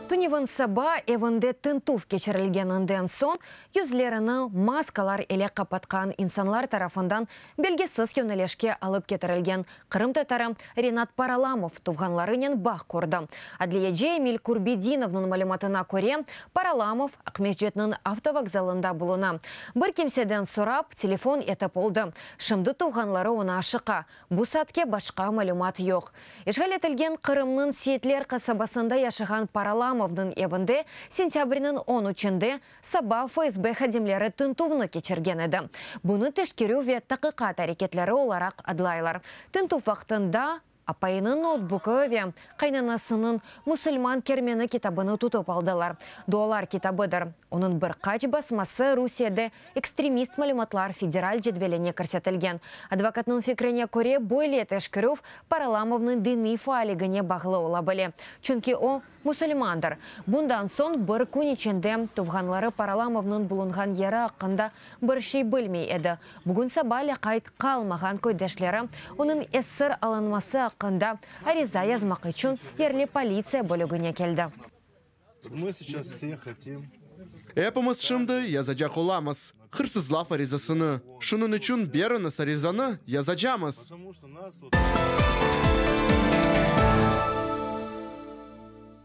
Tünevin saba evinde tintüv keçirilgeninden soñ, yüzlerini maskalar ile qapatqan insanlar tarafından belgisiz yönelişke alıp ketirilgen qırımtatarı Renat Paralamov tuvğanlarınen bağ qurdı. Adliyeci Emil Kurbedinovnıñ malümatına köre, Paralamov Aqmescitniñ avtovokzalında buluna. Bir kimseden sorap, telefon etip oldı. Şimdi tuvğanları oña aşıqa, Bu saatke başqa malümat yoq. İşğal etilgen Qırımnıñ Seyitler qasabasında yaşağan Paralamovnıñ evinde sentâbrniñ on üçünde saba FSB hadimleri tintüvni keçirgen edi. Bunı teşkerüv ve taqiqat areketleri olaraq adlaylar. Tintüv vaqtında apayınıñ noutbuki ve qaynanasınıñ Musulman kermeni kitabını tutıp aldılar. Dualar kitabıdır. Onıñ bir qaç basması Rusiyede ekstremist malümatlar federal cedveline kirsetilgen. Advokatnıñ fikrine köre, böyle teşkerüv Paralamovnıñ diniy faaligine bağlı ola bile, çünki o, musulmandır. Bundan soñ bir kün içinde tuvğanları Paralamovnıñ bulunğan yeri aqqında bir şey bilmey edi. Bugün saba lâqayt qalmağan köydeşleri onıñ esir alınması aqqında ariza yazmaq içün yerli politsiya bölügine keldi. Epimiz şimdi yazacaq olamız hırsızlav arizasını, şunıñ içün beriñiz arizanı, yazacamız.